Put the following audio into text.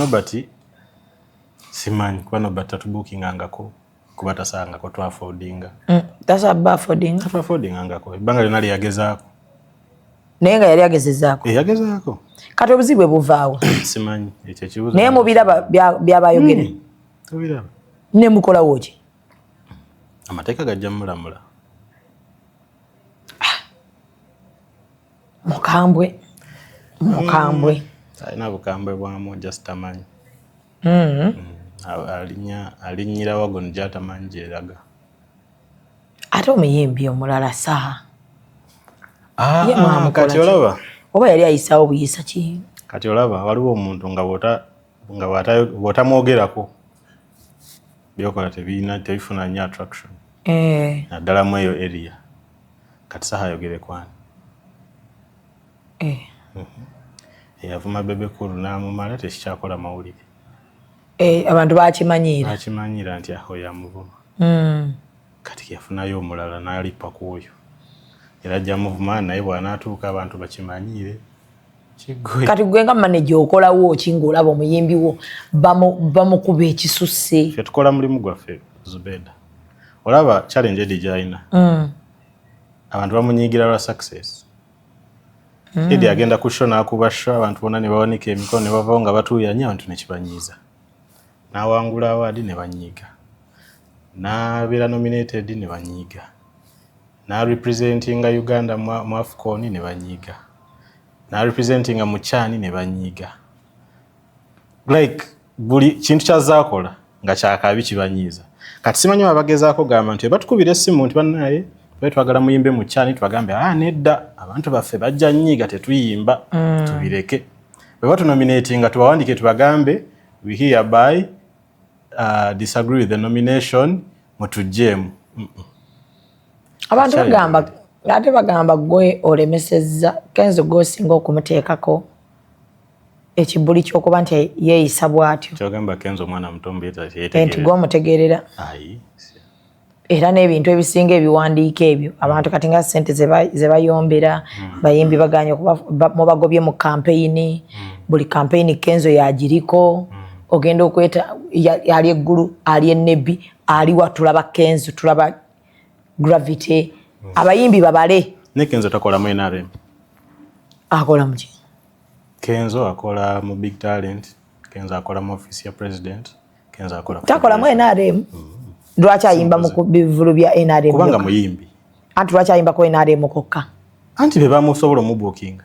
Nobert simanyi kuba Nobert tatubuukingangako kuba tasangako twafodinga mm, tasaba afodinga twafodingangako ebbanga lyonna lyeyagezaako naye nga yali agezezaako eh, yagezaako kati obuzibu bwebuvaawo simanyi ekyo ekibuzo naye mubiraba byabayogere hmm, tubiraba ne mukolawo ki amateeka gajja mulamula mukambwe mukambwe mm. alina bukambwe bwamu just amanyi mm. mm. alinyira wagon gyatamanyi gyeraga ate omuyimbi omulala saha ah, ah, kati olaba oba yali ayisawo buyisa ki kati olaba waliwo omuntu nga bwotamwogerako byokola tebifuna nyo attraction eh. naddala mu eyo area kati saha ayogere kwani eh. mhm. eyavuma bebe kulu namumala tekikyakola mawulire eh, abantu bakimanyiira bakimanyiira nti aho yamuvuma hmm. kati yafunayo omulala nalipa kwoyo era ajja muvuma naye bwanatuuka abantu bakimanyiire kati gwe nga maneja okolawo ki ngaolaba omuyimbi wo bamukuba ekisusse fe tukola mulimu gwaffe zubeda olaba challenge edi gyalina mm. abantu bamunyigira lwa success mm. edi agenda kusho nakuba sho abantu bona nebawanika emikono nebavawo nga batuuyanya abantu nekibanyiiza nawangula awaadi nebanyiiga nabeera nominated nebanyiiga N'arepresentinga Uganda mu, mu Afcon ne banyiiga. N'arepresentinga mu CHAN ne banyiiga. Like, buli kintu kyazaakola nga kyakabi kibanyiiza. Kati simanyi baba bagezaako gamba nti batukubira essimu nti bannaye tubali twagala muyimbe mu CHAN tubagambe ah, nedda abantu baffe bajja nyiiga tetuyimba mm. tubireke. Bwe batunominatinga tubawandiike tubagambe we hereby uh, disagree with the nomination mutujjeemu abantu bagamba ate bagamba gwe olemesezza kenzo gwosinga okumuteekako ekibuli kyokuba nti yeeyisa bwatyo nti gwomutegeerera era n'ebintu ebisinga ebiwandiiko ebyo abantu kati nga sente zebayombera hmm. bayimbi baganye mubagobye mu kampeyini hmm. buli kampeyini kenzo yagiriko hmm. ogenda okweta ali eggulu ali enebbi aliwa tulaba kenzo tulaba gravity mm. abayimbi babale ne kenzo takola mu nrm akola muki kenzo akola mu big talent kenzo akola mu office ya president kenzo akola takola mu nrm mm. Mm-hmm. lwaki ayimba mu bivulu bya nrm kubanga muyimbi anti lwaki ayimba ku nrm kokka anti be bamusobola omubukinga